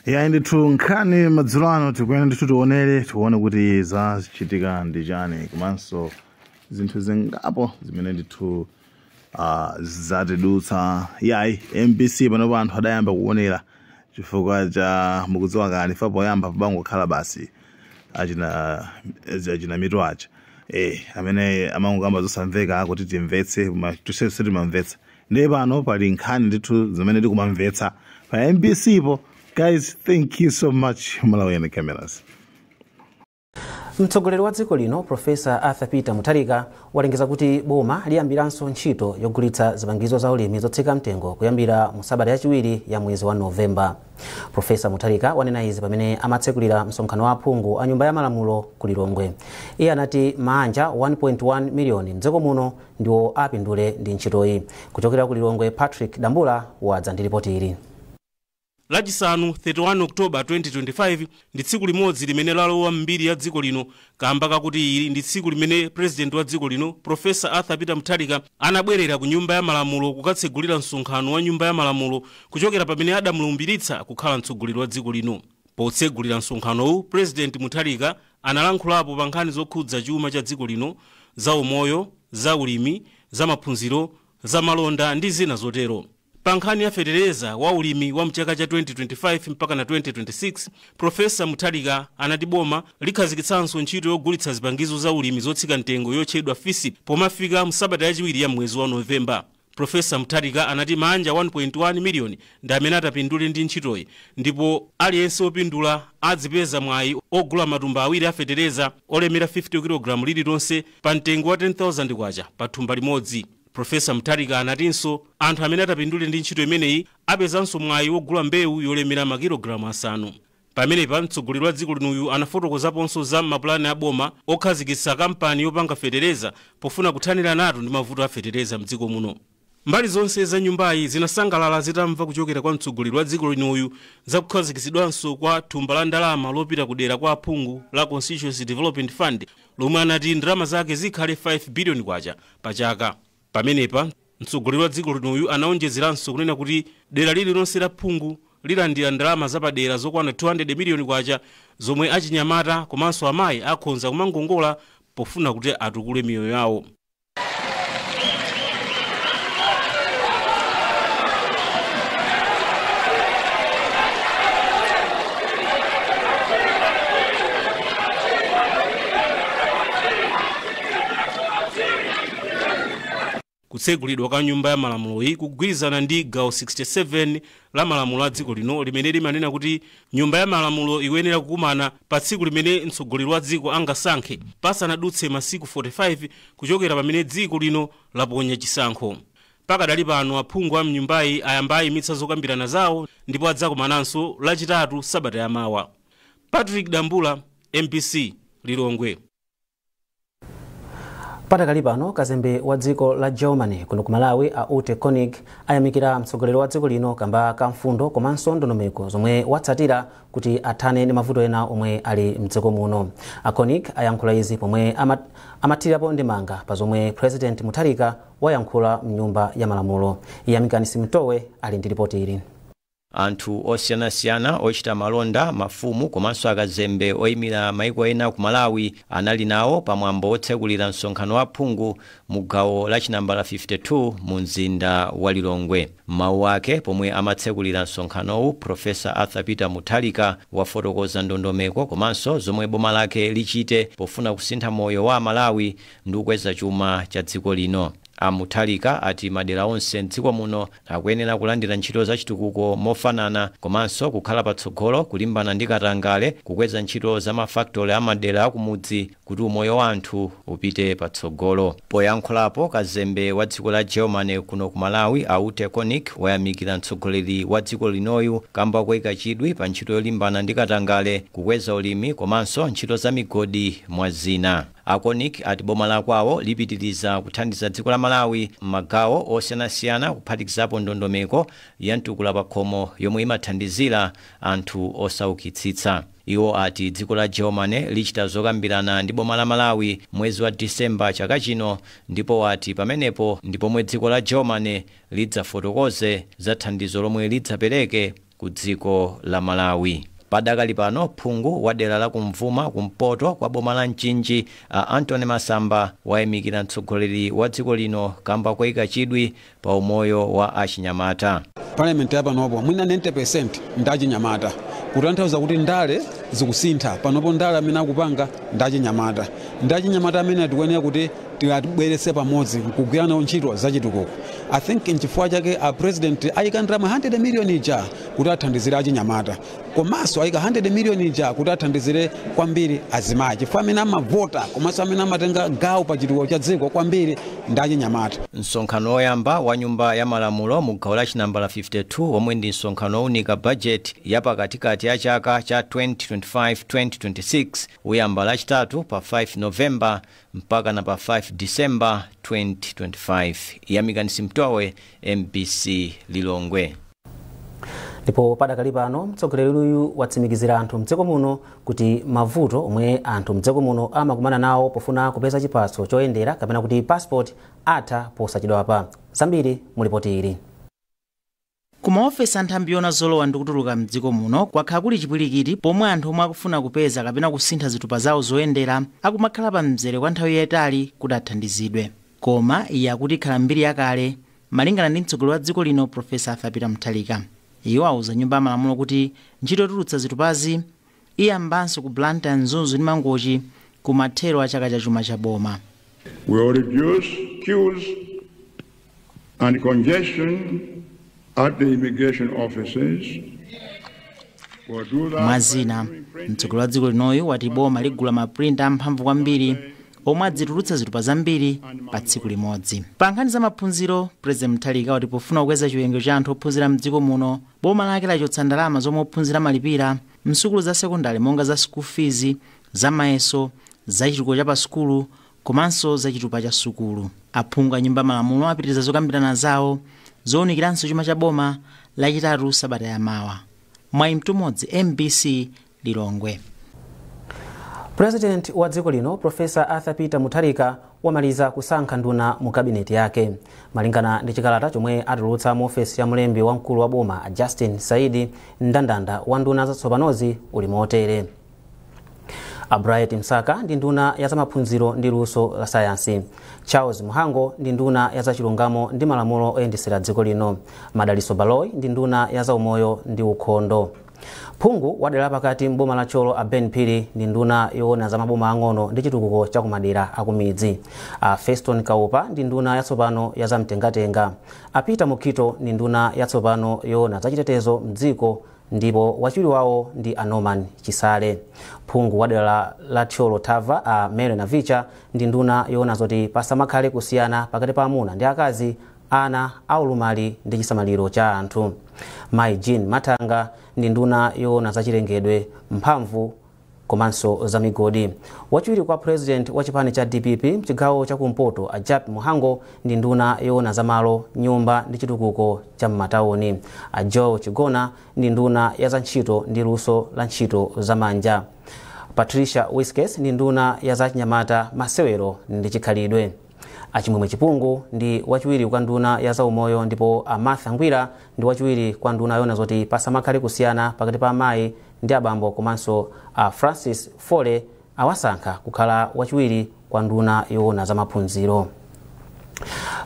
yayi ndithu nkhani madzulo ano tikuyenda ndithu tionere tione kuti zachitika ndi chani komanso zinthu zingapo zimene ndithu ah, zatidutsa yayi mbc panopa anthu adayamba kuonera chifukwa cha mukudziwa kuti ife poyamba pamangokhala basi achina achina mitu aja eh amene amangokamba zosamveka kuti timvetse koma tonse sitimamvetsa ndiye pano pali nkhani ndithu zimene tikumamvetsa pa mbc po guys thank you so much malawian cameras mtsogoleri wa dziko lino profesa arthur peter mutharika walengeza kuti boma liyambiranso ntchito yogulitsa zipangizo za ulimi zotsika mtengo kuyambira mu sabata yachiwiri ya mwezi wa novemba profesa mutharika wanena izi pamene amatsekulira msonkhano wa aphungu a nyumba ya malamulo ku lilongwe iye anati maanja 1.1 miliyoni mdziko muno ndiwo apindule ndi ntchitoyi. Kuchokera ku Lilongwe, Patrick Dambula wadza ndi lipoti ili. Lachisanu 31 October 2025 ndi tsiku limodzi limene lalowa m'mbiri ya dziko lino kamba kakuti ili ndi tsiku limene President wa dziko lino Professor Arthur Peter Mutharika anabwerera ku Nyumba ya Malamulo kukatsegulira msonkhano wa Nyumba ya Malamulo kuchokera pamene adamulumbiritsa kukhala mtsogoleri wa dziko lino. Potsegulira msonkhanowu, President Mutharika Analankhulapo pa nkhani zokhudza chuma cha dziko lino, za umoyo, za ulimi, za maphunziro, za malonda ndi zina zotero. Pa nkhani ya fetereza wa ulimi wa mchaka cha 2025 mpakana 2026, Prof. Mutharika anati boma likhazikitsanso ntchito yogulitsa zipangizo za ulimi zotsika mtengo yotchedwa Fisip pomafika msabata yachiwiri ya mmwezi wa November. Professor Mutharika anati maanja 1.1 million ndi amene atapindule ndi ntchitoyi ndipo aliyense opindula adzipeza mwayi ogula matumba awiri a fetereza olemera 50 kilogram lililonse pa mtengo wa K10,000 pa thumba limodzi. Professor Mutharika anatinso anthu amene atapindule ndi ntchito imeneyi apezanso mwayi wogula mbewu yolemera makilogram asanu. Pamenepa, mtsogoleri wa dziko linoyu anafotokozaponso za mapulani a boma okhazikitsa kampani yopanga fetereza pofuna kuthaniranatu ndi mavuto a fetereza m'dziko muno. Mbali zonse za nyumbayi zinasangalala zitamva kuchokera kwa mtsogoleri wa dziko linoyu za kukhazikitsidwanso kwa thumba la ndalama lopita ku dera kwa aphungu la Constituency Development Fund lomwe anati ndalama zake zikhale K5 biliyoni pachaka. Pamenepa, mtsogoleri wa dziko linoyu anaonjezeranso kunena kuti dera lililonse la phungu lilandira ndalama zapadera zokwana K200 miliyoni zomwe achinyamata komanso amayi akhonza kumangongola pofuna kuti atukule miyoyo yawo. Kutsegulidwa kwa nyumba ya malamuloyi kugwirizana ndi gawo 67 la malamulo a dziko lino limene limanena kuti nyumba ya malamulo ikuyenera kukumana pa tsiku limene mtsogoleri wa dziko angasankhe pasanadutse masiku 45 kuchokera pamene dziko lino laponya chisankho. Pakadali pano aphungu a mnyumbayi ayamba ayimitsa zokambirana zawo ndipo adzakumananso lachitatu sabata yamawa. Patrick Dambula, mbc, Lilongwe. patakali pano kazembe wa dziko la germany kuno ku malawi a ute konig ayamikira mtsogoleri wa dziko lino kamba ka mfundo komanso ndondomeko zomwe watsatira kuti athane ndi mavuto ena omwe ali mdziko muno a konig ayankhula izi pomwe amathirirapo ndemanga pa zomwe president mutharika wayankhula mnyumba ya malamulo iyamikani simtowe ali ndi ripoti ili Anthu osiyanasiyana, ochita malonda, mafumu komanso akazembe oimira maiko ena ku Malawi anali nawo pa mwambo wotsekulira msonkhano wa aphungu mu gawo la chinambala 52 mu mzinda wa Lilongwe. M'mawu ake pomwe amatsekulira msonkhanowu, Professor Arthur Peter Mutharika wafotokoza ndondomeko komanso zomwe boma lake lichite pofuna kusintha moyo wa aMalawi ndi kukweza chuma cha dziko lino. A Mutharika ati madera onse m'dziko muno Akuyenera kulandira ntchito zachitukuko mofanana komanso kukhala patsogolo kulimbana ndi katangale, kukweza ntchito za ma factory a m'madera akumudzi kuti umoyo wa anthu upite patsogolo. Poyankhulapo, kazembe wa dziko la Germany kuno ku Malawi a Ute Konig wayamikira mtsogoleri wa dziko linoyu kamba koika chidwi pa ntchito yolimbana ndi katangale, kukweza ulimi komanso ntchito za migodi mwa zina. A Konig ati boma la kwawo lipitiriza kuthandiza dziko la Malawi m'magawo osiyanasiyana kuphatikizapo ndondomeko ya mtukula pakhomo yomwe imathandizira anthu osaukitsitsa. Iwo ati dziko la Germany lichita zokambirana ndi boma la Malawi mwezi wa December chaka chino ndipo ati pamenepo ndi pomwe dziko la Germany lidzafotokoze za thandizo lomwe lidzapereke ku dziko la Malawi. Padakali pano phungu wa dera la kum'mawa kumpoto kwa boma la Mchinji a Anthony Masamba wayamikira mtsogoleri wa dziko lino kamba koika chidwi pa umoyo wa achinyamata. Parliament ya panopo mwina 90% ndi achinyamata kutanthauza kuti ndale zikusintha panopo ndale amene akupanga ndi achinyamata ndi achinyamata amene tikuyenera kuti tiwabweretse pamodzi nkugwira nawo ntchito zachitukuko i think nchifukwa chake a president ayika ndalama 100 million ija kuti athandizire achinyamata komanso ayika 100 million ija kuti athandizire kwambiri azimayi chifukwa amene amavota komanso amene amatenga gawo pa chitukuko cha dziko kwambiri ndi achinyamata msonkhano woyamba wa nyumba ya malamulo mu gawo la chinambala 52 womwe ndi msonkhano wounika bajeti ya pakatikati ya chaka cha 2025-2026 uyamba lachitatu pa 5 novemba mpakana pa 5 December 2025. Yamikani Simutowe, mbc Lilongwe. ndipo padakali pano mtsogoleri uyu watsimikizira anthu mdziko muno kuti mavuto omwe anthu mdziko muno amakumana nawo pofuna kupeza chiphaso choyendera kapena kuti passport atha posachedwapa zambiri mulipoti ili Ku maofesi a nthambi yoona zolowa ndi kutuluka m'dziko muno kwakhala kuli chipwirikiti pomwe anthu omwe akufuna kupeza kapena kusintha zitupa zawo zoyendera akumakhala pa mzere kwa nthawi yaitali kuti athandizidwe. Koma iyi akuti ikhala mbiri yakale, malingana ndi mtsogoleri wa dziko lino Prof. Arthur Peter Mutharika. Iye wauza Nyumba ya Malamulo kuti ntchito yotulutsa zitupazi. Iyambanso ku Blantyre, Mzuzu ndi Mangochi kumathero a chaka cha chuma cha boma. will reduce queues and congestion at the immigration offices. Mwa zina, mtsogoleri wa dziko linoyu wati boma ligula maprinta amphamvu kwambiri omwe adzitulutsa zitupa zambiri pa tsiku limodzi. Pa nkhani za maphunziro, President Mutharika wati pofuna kukweza chiwerengero cha anthu ophunzira mdziko muno, Boma lake lachotsa ndalama zomwe ophunzira amalipira m'sukulu za sekondale monga za school fees, za mayeso, za chitukuko cha pa sukulu komanso za chitupa cha sukulu. Aphungu a Nyumba ya Malamulo apitiriza zokambirana zawo zounikiranso chuma cha boma Lachitatu sabata ya mawa. Mwayi Mtumodzi, mbc, Lilongwe. President wa dziko lino Professor Arthur Peter Mutharika wamaliza kusankha nduna mu cabinet yake. Malingana ndi chikalata chomwe atulutsa mu ofesi ya mlembi wamkulu wa boma a Justin Saidi, ndandanda wa nduna zatsopanozi uli motere. A Bright Msaka ndi nduna ya zamaphunziro ndi luso la sayansi. Charles Mhango ndi nduna ya zachilungamo ndi malamulo oyendetsera dziko lino. Madaliso Baloyi ndi nduna ya zaumoyo ndi ukhondo. Phungu wa dera la pakati m'boma la Thyolo a Ben Phiri ndi nduna yoona za maboma ang'ono ndi chitukuko cha kumadera akumidzi a Feston Kaupa ndi nduna yatsopano ya zamtengatenga a Peter Mukhito ndi nduna yatsopano yoona za chitetezo mdziko ndipo wachiwiri wawo ndi a Norman Chisale. Phungu wa dera la- la Thyolo Thava a Mary Navicha ndi nduna yoona zoti pasamakhale kusiyana pakati pa amuna ndi akazi ana, aulumali ndi chisamaliro cha anthu. Mayi Jean Mathanga ndi nduna yoona za chilengedwe, mphamvu komanso za migodi. Wachiwiri kwa President wa chipani cha dpp mchigawo cha kumpoto a Jappie Mhango ndi nduna yoona za malo, nyumba ndi chitukuko cha m'matauni. A Joel Chigona ndi nduna ya za ntchito ndi luso la ntchito za manja. Patricia Wiskes ndi nduna ya za achinyamata, masewero ndi chikhalidwe. A Chimwemwe Chipungu ndi wachiwiri kwa nduna ya zaumoyo ndipo a Martha Ngwira ndi wachiwiri kwa nduna yoona zoti pasamakhale kusiyana pakati pa amayi ndi abambo komanso a Francis Fole awasankha kukhala wachiwiri kwa nduna yoona za maphunziro.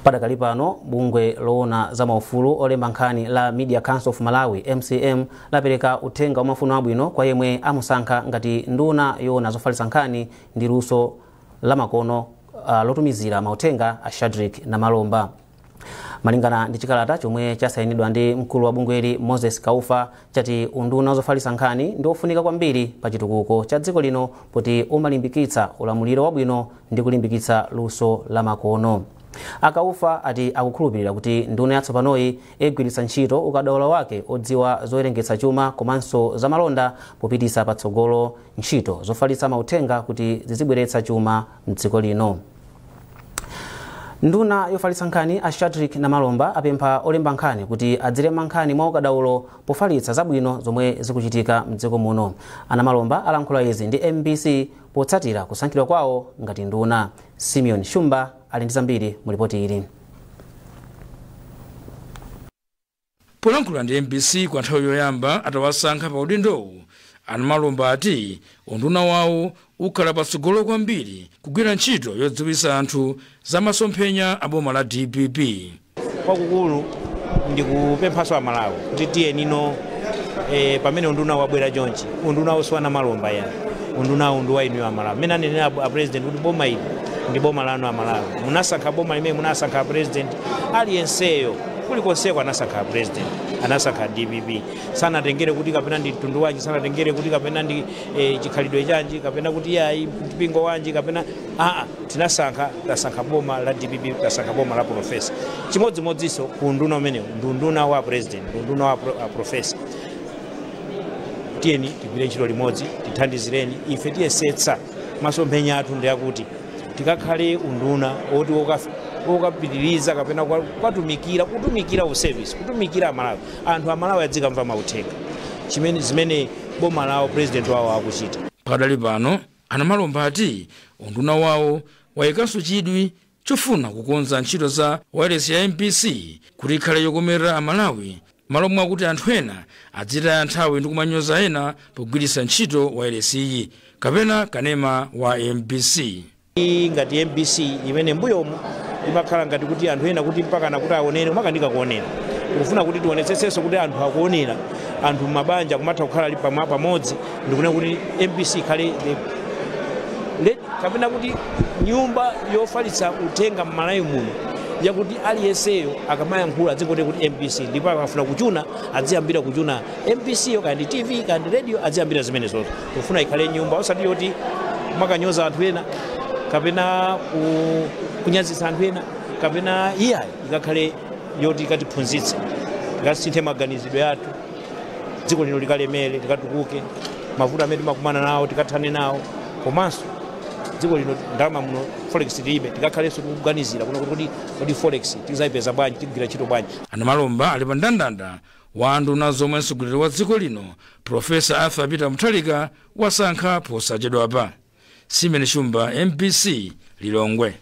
Padakali pano bungwe loona za maufulu olemba nkhani la Media Council of Malawi MCM lapereka uthenga wa mafuno abwino kwa yemwe amusankha ngati nduna yoona zofalitsa nkhani ndi luso lamakono uh, lotumizira mauthenga a shadrick namalomba malingana ndi chikalata chomwe chasayinidwa ndi mkulu wa bungweli moses kaufa chati unduna wa zofalitsa nkhani ndi wofunika kwambiri pa chitukuko cha dziko lino poti umalimbikitsa ulamuliro wabwino ndi kulimbikitsa luso lamakono a kaufa ati akukhulupirira kuti nduna yatsopanoyi igwiritsa ntchito ukadaulo wake odziwa zowerengetsa chuma komanso zamalonda popititsa patsogolo ntchito zofalitsa mauthenga kuti zizibweretsa chuma m'dziko lino. Nduna yofalitsa nkhani a Shadrack Namalomba apempha olemba nkhani kuti adzilemba nkhani mwa ukadaulo pofalitsa zabwino zomwe zikuchitika m'dziko muno. A Namalomba alankhula izi ndi mbc potsatira kusankhidwa kwawo ngati nduna. Simeon Shumba ali ndi zambiri mu lipoti ili. Polankhula ndi mbc kwa nthawi yoyamba atawasankha pa udindowu, a Namalomba ati unduna wawo ukhala patsogolo kwambiri kugwira ntchito yodziwitsa anthu za masomphenya a boma la dpp. Kwakukulu ndikupemphanso a Malawi kuti tiyeni no eh, pamene undunawu wabwera chonchi, undunawu si wa Namalomba ayi undunawu ndi wa inuyo a Malawi. Mmene anenera a president kuti boma ili ndi boma lanu a Malawi, munasankha boma limene munasankha a president aliyenseyo kulikonseko anasankha a president anasankha dpp sanatengere kuti kapena ndi mtundu wanji sanatengere kuti kapena ndi eh, chikhalidwe chanji kapena kuti yayi mpingo wanji kapena aa tinasankha tasankha boma la dpp tasankha boma la profesa chimodzimodzinso ku unduna umenewu ndi unduna wa president ndi unduna wa pro, a profesa tiyeni tigwire ntchito limodzi tithandizireni ife tiyesetsa Masomphenya athu ndi akuti tikakhale unduna woti wokapitiriza kapena kukatumikira kutumikira u service kutumikira Amalawi, anthu Amalawi adzikamva mauthenga chimene zimene boma lawo president wawo akuchita. Pakadali pano, a Namalomba ati unduna wawo wayikanso chidwi chofuna kukonza ntchito za wailesi ya mbc kuti ikhale yokomerera amalawi malo mwakuti anthu ena adzitaya nthawi ndi kumanyoza ena pogwiritsa ntchito wailesiyi kapena kanema wa mbc iyi ngati mbc imene mbuyomu imakhala ngati kuti anthu ena kuti mpakana kuti aonere kumakanika kuonera tikufuna kuti tionetsetsenso kuti anthu akuonera anthu mabanja kumatha kukhala ali pamo pamodzi ndikunena kuti mbc ikhale the- le- kapena kuti nyumba yofalitsa uthenga m'malawi muno yakuti aliyenseyo akamayankhula adzingoti kuti mbc ndipo akafuna kuchuna adziyambira kuchuna mbc yo kaya ndi tv kaya ndi radio adziyambira zimenezozo tikufuna ikhale nyumba osati yoti mukanyoza anthu ena kapena ku- kunyazitsa anthu ena kapena iyayi ikakhale yoti ikatiphunzitse ikasinthe maganizidwe athu dziko lino likalemere likatukuke mavuto amene timakumana nawo tikathane nawo komanso dziko lino ndalama muno forex tilibe tikakhalenso tikuganizira kunena kuti kodi forex tizayipeza bwanji tigwira ntchito bwanji a namalomba ali pa ndandanda wa nduna zomwe mtsogoleri wa dziko lino profesa arthur peter mutharika wasankha posachedwapa simeon shumba mbc lilongwe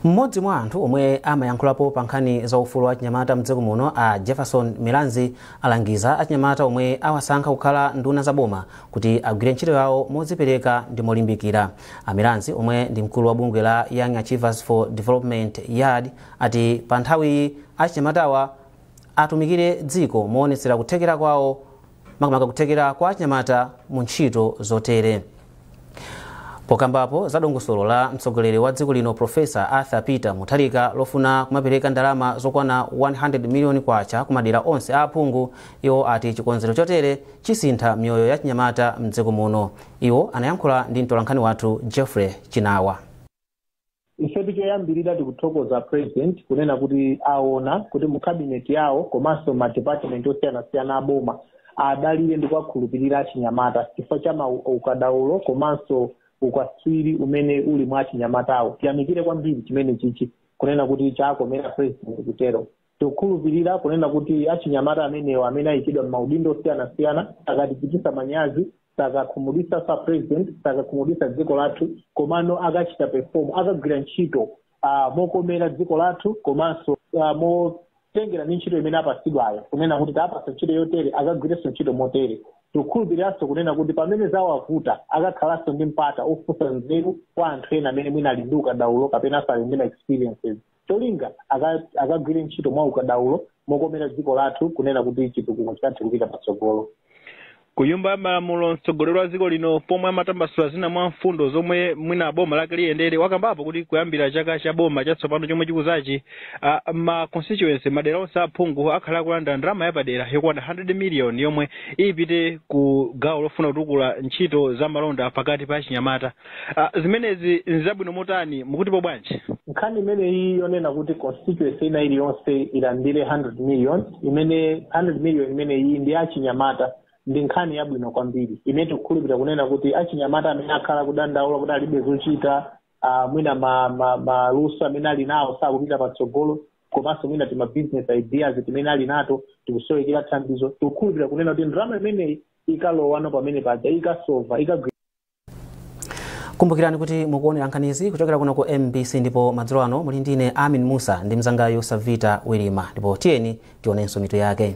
mmodzi mwa anthu omwe amayankhulapo pa nkhani za ufulu wa achinyamata mdziko muno a jefferson milanzi alangiza achinyamata omwe awasankha kukhala nduna za boma kuti agwire ntchito yawo modzipereka ndi molimbikira a milanzi omwe ndi mkulu wa bungwe la young achievers for development yad ati pa nthawiyi achinyamatawa atumikire dziko moonetsera kuthekera kwawo makamaka kuthekera kwa achinyamata mu ntchito zotere pokambapo za dongosolo la mtsogoleri wa dziko lino profesa arthur peter mutharika lofuna kumapereka ndalama zokwana 100 miliyoni kwacha ku madera onse a aphungu iwo ati chikonzero chotere chisintha miyoyo ya achinyamata mdziko muno iwo anayankhula ndi mtolankhani wathu jeffrey chinawa ifetu choyambirira tikuthokoza president kunena kuti aona kuti mu cabinet yawo komanso ma department osiyanasiyana aboma adalire ndi kuwakhulupirira achinyamata chifukwa cha ma ukadaulo komanso ukatswiri umene uli mwa achinyamatawo tiyamikire kwambiri chimene chichi kunena kuti chakomera president kutero tikukhulupirira kunena kuti achinyamata amenewo amene ayikidwa m'maudindo osiyanasiyana sakatichititsa manyazi sakakhumudwitsa a president sakakhumudwitsa dziko lathu komano akachita perform akagwira ntchito uh, mokomera dziko lathu komanso uh, motengera ndi ntchito imene apatsidwayo kunena kuti tawapatsa ntchito yotere akagwirenso ntchito motere tikukhulupiriranso kunena kuti pamene zawavuta akakhalanso ndi mpata ofunsa nzeru kwa anthu ena amene mwina ali ndi ukadaulo kapenanso ali ndi ma experiences cholinga aka- akagwire ntchito mwa ukadaulo mokomera dziko lathu kunena kuti chitukuko chikathe kupita patsogolo ku nyumba ya malamulo mtsogoleri wa dziko lino pomwe amatambasula zina mwa mfundo zomwe mwina boma lake liyendere wakambapo kuti kuyambira chaka cha boma chatsopano chomwe chikuzachi uh, ma constituency madera onse aphungu akhala akulandira ndalama yapadera yokwana 100 million yomwe ipite ku gawo lofuna kutukula ntchito za malonda pakati pa achinyamata Ah, zimenezi nzabwino motani mukutipo bwanji nkhani imeneyi yonena kuti constituency ina iliyonse ilandire 100 million imene 100 million imeneyi ndi achinyamata ndi nkhani yabwino kwambiri imene tikukhulupirira kunena kuti achinyamata amene akhala kudandaula kuti alibe zochita ah, mwina ma- ma- maluso amene ali nawo sakupita patsogolo komanso mwina tima business ideas timene ali nato tikusowekera thandizo tikukhulupirira kunena kuti ndalama imeneyi ikalowa pamene paja ikasova ikagwira kumbukirani kuti mukuonera nkhanizi kuchokera kuno ku mbc ndipo madzulo ano muli ndine amin musa ndi mnzangayu savita wilima ndipo tiyeni tionenso mitu yake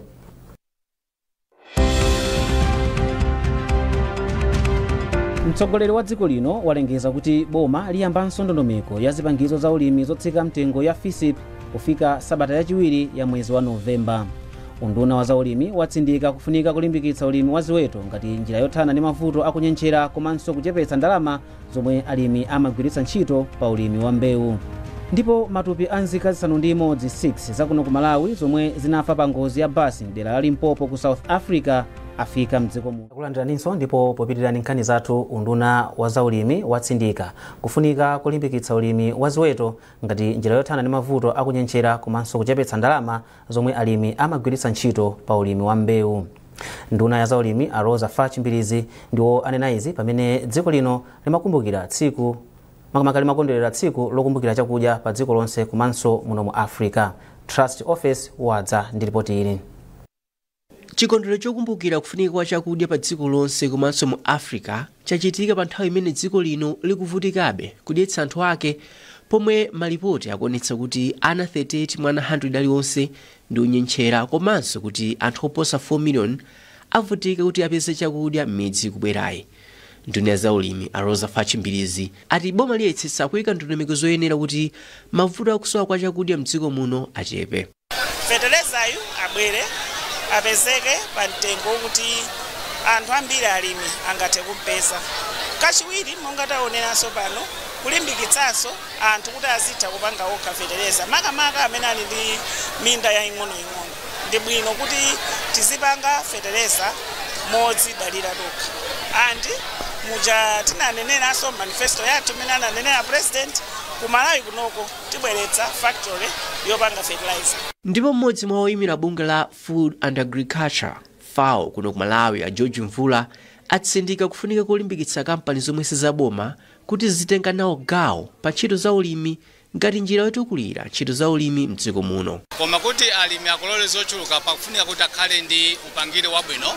mtsogoleri wa dziko lino walengeza kuti boma liyambanso ndondomeko ya zipangizo za ulimi zotsika mtengo ya fisip kufika sabata yachiwiri ya mwezi wa novemba unduna wa zaulimi watsindika kufunika kulimbikitsa ulimi wa ziweto ngati njira yothana ndi mavuto akunyentchera komanso kuchepetsa ndalama zomwe alimi amagwiritsa ntchito pa ulimi wa mbewu ndipo matupi a nzika zisanu ndi imodzi 6 zakuno ku malawi zomwe zinafa pa ngozi ya basi mdera la limpopo ku south africa afika mdziko muno takulandiraninso ndipo popitira ndi nkhani zathu unduna wa zaulimi watsindika kufunika kulimbikitsa ulimi wa ziweto ngati njira yothana ndi mavuto akunyentchera komanso kuchepetsa ndalama zomwe alimi amagwiritsa ntchito pa ulimi wa mbewu. Nduna ya zaulimi a Roza Fatch Mbilizi ndiwo anena izi pamene dziko lino limakumbukira tsiku makamaka limakondwerera tsiku lokumbukira chakudya pa dziko lonse komanso muno mu Africa. Trust Ofesi wadza ndi lipoti ili. Chikondwerero chokumbukira kufunika kwa chakudya pa dziko lonse komanso mu Africa chachitika pa nthawi imene dziko lino likuvutikabe kudyetsa anthu ake pomwe malipoti akuonetsa kuti ana 38 mwa ana 100 alionse ndi onyentchera komanso kuti anthu oposa 4 million avutika kuti apeze chakudya m'miyezi ikubwerayi. Nduna ya zaulimi a Roza Fatch Mbilizi ati boma liyesetsa kuika ndondomeko zoyenera kuti mavuto a kusowa kwa chakudya m'dziko muno achepe. Fetelezayu abwere apezeke pa mtengo okuti anthu ambiri alimi angathe kumpeza. Kachiwiri monga taoneranso pano kulimbikitsanso anthu kuti azitha kupanga okha fetereza makamaka amene ali ndi minda yaing'onoing'ono. Ndi bwino kuti tizipanga fetereza modzidalira tokha and muja tinaneneranso manifesto yathu imene ananenera president ku Malawi kunoko, tibweretsa factory yopanga fertilizer. Ndipo m'modzi mwa oyimira bungwe la Food and Agriculture, FAO, kuno ku Malawi a George Mvula atsindika kufunika kolimbikitsa kampani zomwe sizaboma kuti zizitenga nawo gawo pa ntchito za ulimi ngati njira yotukulira ntchito za ulimi m'dziko muno. Koma kuti alimi akolole zochuluka pakufunika kuti akhale ndi upangiri wabwino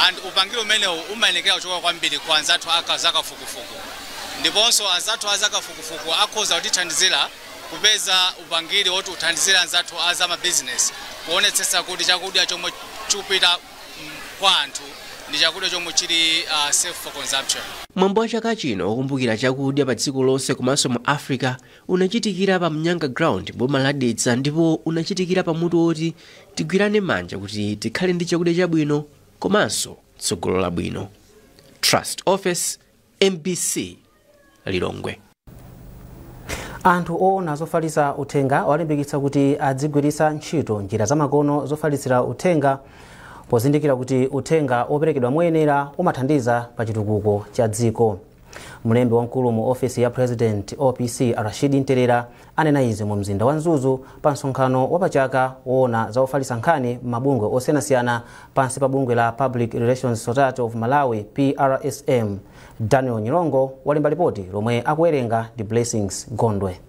and upangiri umenewu umayenekera kuchoka kwambiri ku anzathu a zakafukufuku. ndiponso anzathu a zakafukufuku akhoza kutithandizira kupeza upangiri woti uthandizire anzathu a za mabizinesi kuonetsetsa kuti chakudya chomwe chikupita kwa anthu ndi chakudya chomwe chili uh, safe for consumption. Mwambo wa chaka chino wokumbukira chakudya pa dziko lonse komanso mu Africa unachitikira pa Mnyanga Ground boma la Dedza ndipo unachitikira pa mutu woti tigwirane manja kuti tikhale ndi chakudya chabwino komanso tsogolo labwino. Trust Office Mbc Lilongwe. Anthu oona zofalitsa uthenga awalimbikitsa kuti adzigwiritsa ntchito njira zamakono zofalitsira uthenga pozindikira kuti uthenga woperekedwa moyenera umathandiza pa chitukuko cha dziko. Mlembi wamkulu mu ofesi ya President OPC Rashid Ntelera Anena izi mu mzinda wa Mzuzu pa msonkhano wa pa chaka woona za ofalitsa nkhani m'mabungwe osiyanasiyana pansi pa bungwe la Public Relations Society of Malawi, PRSM. Daniel Nyirongo walemba lipoti lomwe akuwerenga ndi Blessings Gondwe.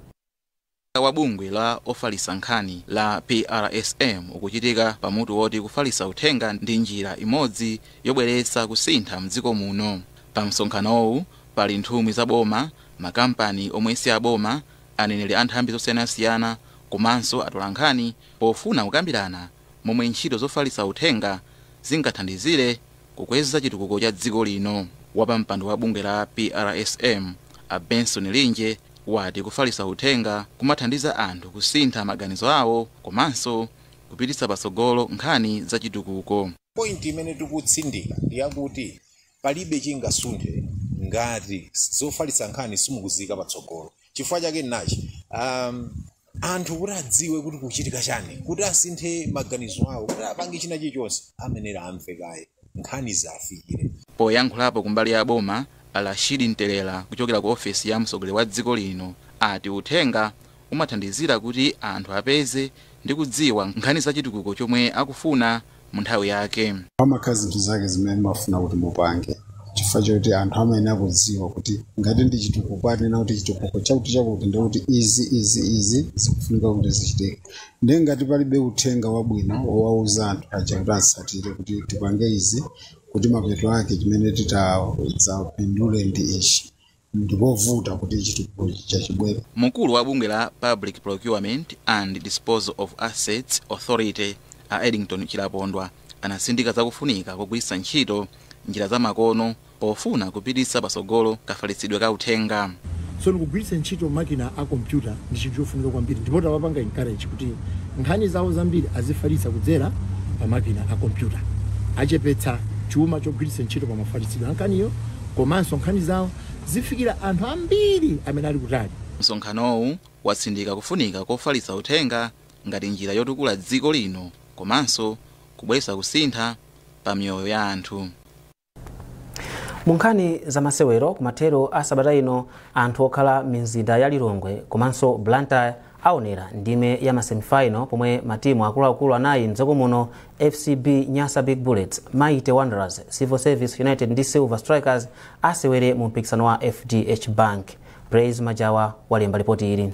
wa bungwe la ofalitsa nkhani la PRSM ukuchitika pa mutu woti kufalitsa uthenga ndi njira imodzi yobweretsa kusintha mdziko muno. Pa msonkhanowu pali nthumwi za boma, makampani omwe si aboma, aneneri a nthambi zosiyanasiyana komanso atolankhani pofuna kukambirana momwe ntchito zofalitsa uthenga zingathandizire kukweza chitukuko cha dziko lino. Wapampando wa bungwe la PRSM, a Benson Linje, wati kufalitsa uthenga kumathandiza anthu kusintha maganizo awo komanso kupititsa patsogolo nkhani za chitukuko. Point imene tikutsindika ndi yakuti Palibe chingasunthe ngati zofalitsa nkhani simukuziika patsogolo. Chifukwa chake nnachi, um, anthu kuti adziwe kuti kukuchitika chani, kuti asinthe maganizo awo, kuti apange china chilichonse, amayenera amve kaye nkhani ziafikire. Poyankhulapo kumbali ya boma, a Rashid Ntelera kuchokera ku ofesi ya mtsogoleri wa dziko lino ati uthenga umathandizira kuti anthu apeze ndi kudziwa nkhani za chitukuko chomwe akufuna. mu nthawi yake. Pamakhala zinthu zake zimene mumafuna kuti mupange chifukwa choti anthu amayenera kudziwa kuti ngati ndi chitukuko akunena kuti chitukuko chakuti chakuti ndi kuti izi izi izi zikufunika kuti zichitike ndiye ngati palibe uthenga wabwino wowauza anthu aja kuti atsatire kuti tipange izi kuti mapeto ake chimene titadzapindule ndi ichi ndipovuta kuti chitukuko chija chibwere. Mkulu wa bungwe la Public Procurement and Disposal of Assets Authority a Eddington Chilapondwa anatsindika zakufunika kogwiritsa ntchito njira za makono pofuna kupititsa patsogolo kafalitsidwe ka uthenga. So kugwiritsa ntchito makina a kompyuta ndi chinthu chofunika kwambiri ndipo tawapanga encourage kuti nkhani zawo zambiri azifalitsa kudzera pa makina a kompyuta. Achepetsa chuma chogwiritsa ntchito pa mafalitsidwe a nkhaniyo. komanso nkhani zawo zifikira anthu ambiri amene ali kutali. Msonkhanowu watsindika kufunika kofalitsa uthenga ngati njira yotukula dziko lino komanso kubweretsa kusintha pa miyoyo ya anthu. Mu nkhani za masewero, kumathero a sabata ino anthu okhala m'mizinda ya Lilongwe komanso Blantyre aonera ndime ya ma semifinal pomwe matimu akuluakulu anayi mdziko muno, FCB Nyasa Big Bullets, Mighty Wanderers, Civil Service United ndi Silver Strikers asewere mu mpikisano wa FDH Bank. Praise Majawa walemba lipoti ili.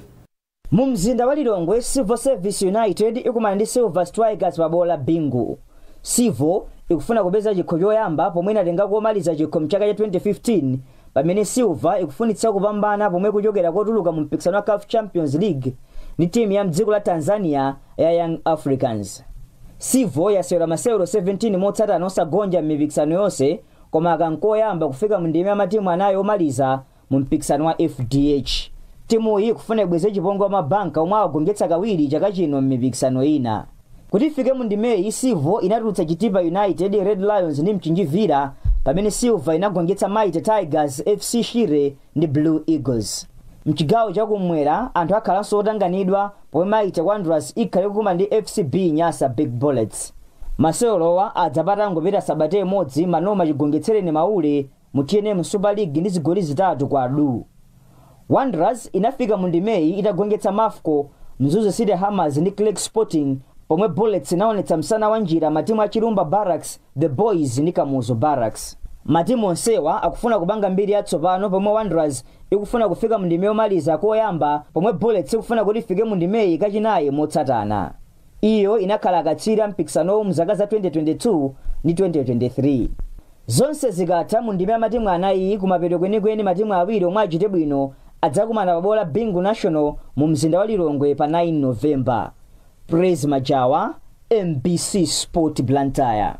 Mu mzinda wa Lilongwe, Civil Service United ikumana ndi Silver Strikers pa bwalo la Bingu. Civil ikufuna kupeza chikho choyamba pomwe inatenga komaliza chikho mchaka cha 2015 Pamene Silver ikufunitsitsa kupambana pomwe kuchokera kotuluka mu mpikisano wa CAF Champions League ndi timu ya mdziko la Tanzania ya Young Africans. Civo yasewera masewero 17 motsatana osagonja m'mipikisano yonse koma aka nkoyamba kufika mu ndime ya matimu anayi omaliza mu mpikisano wa FDH. Timuyi ikufuna ibweze chipongwe kwa mabanka omwe awagonjetsa kawiri chaka chino m'mipikisano ina. kuti ifike mu ndimeyi civo inatulutsa chitipa united red lions ndi mchinji villa pamene silver inagonjetsa mighty tigers fc shire ndi blue eagles mchigawo chakumwera anthu akhalanso otanganidwa pomwe mighty wanderers ikhale ikukumana ndi fcb nyasa big bullets masewerowa adza patangopita sabata imodzi manoma chigonjetsereni maule mu tnm super league ndi zigoli zitatu kwa du wanderers inafika mu ndimeyi itagonjetsa mafco mzuzu city hammers ndi creck sporting pomwe bullets inaonetsa msana wa njira matimu a chilumba barrage the boyz ndi kamuzu barracks matimu onsewa akufuna kupanga mbiri yatsopano pomwe wanderers ikufuna kufika mu ndime yomaliza koyamba pomwe bullets ikufuna kuti ifike mu ndimeyi kachinayi motsatana Iyo inakhala akatswiri a mpikisanowu mzaka za 2022 ndi 2023. Zonse zikatha mu ndime ya matimu anayiyi kumapeto kwenikweni matimu awiri omwe achite bwino adzakumana pa bwalo la Bingu National mu mzinda wa Lilongwe pa 9 November. Praise Majawa, MBC Sport Blantyre.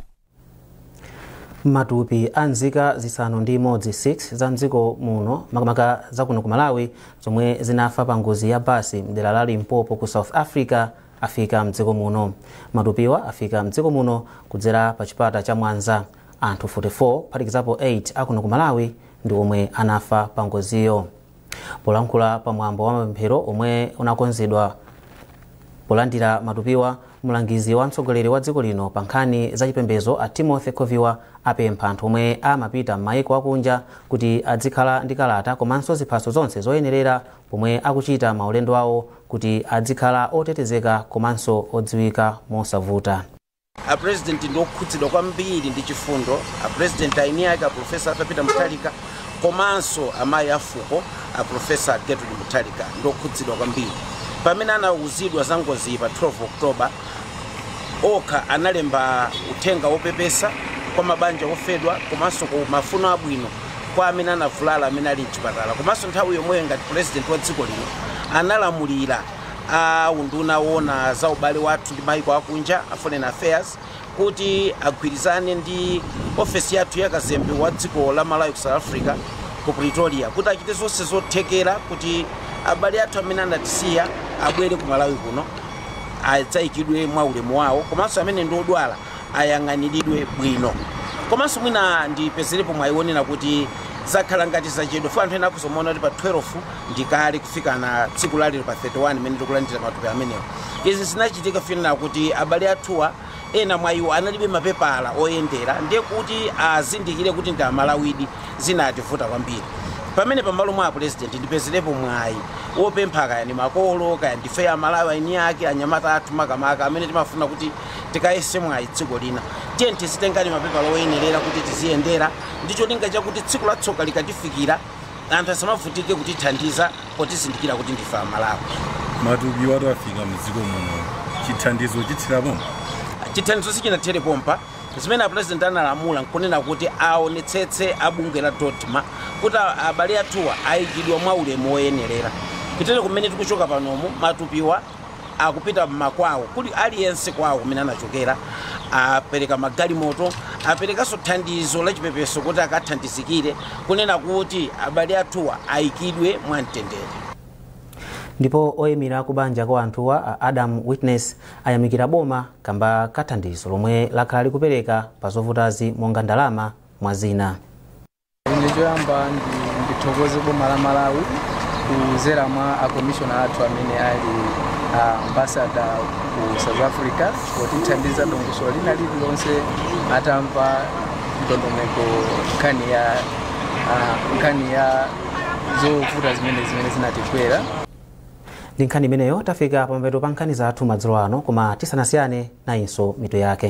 matupi a nzika zisanu ndi imodzi 6 za mdziko muno makamaka za kuno ku malawi zomwe zinafa pa ngozi ya basi mdera la limpopo ku south africa afika mdziko muno matupiwa afika mdziko muno kudzera pa chipata cha mwanza anthu 44 kuphatikizapo 8 akuno ku malawi ndi omwe anafa pa ngoziyo polankhula pa mwambo wa mapemphero omwe unakonzedwa polandira matupiwa mlangizi wa mtsogoleri wa dziko lino pa nkhani za chipembedzo a timothy khoviwa apempha anthu omwe amapita m'mayiko akunja kuti adzikhala ndi kalata komanso ziphaso zonse zoyenerera pomwe akuchita maulendo awo kuti adzikhala otetezeka komanso odziwika mosavuta A president ndi okhudzidwa kwambiri ndi chifundo. A president aini ake a Prof. Arthur Peter Mutharika komanso amayi a fuko a Prof. Gertrude Mutharika ndi okhudzidwa kwambiri. Pamene anauzidwa za ngoziyi pa 12 October, okha analemba uthenga wopepesa kwa mabanja ofedwa komanso mafuno abwino kwa amene anavulala amene ali mchipatala komanso nthawi yomweyo ngati president wa dziko lino analamulira a unduna woona za ubale wathu ndi maiko akunja a foreign affairs kuti agwirizane ndi ofesi yathu ya kazembe wa dziko la malawi ku south africa ku pretoria kuti achite zonse zothekera kuti abale athu amene anatisiya abwere ku malawi kuno adzayikidwe mwa ulemu wawo komanso amene ndi odwala ayang'aniridwe bwino komanso mwina ndipezerepo mwayi wonena kuti zakhala ngati zachedwa fo anthu ena akudzomaona kuti pa 12 ndikale kufikana tsiku lalero pa 31 mene tikulandira matupi amenewa izi zinachitika ponena kuti abale athuwa ena mwa iwo analibe mapepala oyendera ndiye kuti azindikire kuti ndi amalawidi zinativuta kwambiri pamene pamalo mwa apresident ndipezerepo mwayi wopempha kaya ni makolo kaya ndife amalawi aini ake anyamata athu makamaka amene timafuna kuti tikayese mwayi dziko lina tiye tizitengani mapepala oyenerera kuti tiziyendera ndi cholinga chakuti tsiku la tsoka likatifikira anthu asamavutike kutithandiza potizindikira kuti ndife amalawi matupiwatu afika mdziko muno chithandizo chithera pompa chithandizo sichinathere pompa zimene apulezidenti analamula nkunena kuti aonetsetse abungwe la dodma kuti a- abale athuwa ayikidwe mwa ulemu woyenerera kutere kumene tikuchoka panomu matupiwa akupita mmakwawo kuti aliyense kwawo kumene anachokera apereka magalimoto aperekanso thandizo la chipepeso kuti akathandizikire kunena kuti abale athuwa ayikidwe mwamtendere ndipo oyimira akubanja kwa anthuwa a adam witness ayamikira boma kamba kathandizo lomwe lakhala likupereka pa zovutazi monga ndalama mwa zina Ine choyamba ndi- ndithokoze boma la Malawi kuzera mwa akomishona athu amene ali ambasada ku South Africa potithandiza dongosolo lina lililonse atamva ndondomeko nkhani ya ah, nkhani ya zovuta zimene zimene zinatigwera ndi nkhani imeneyo tafika pamapeto pa nkhani zathu madzulo ano koma tisanasiyane nayinso mitu yake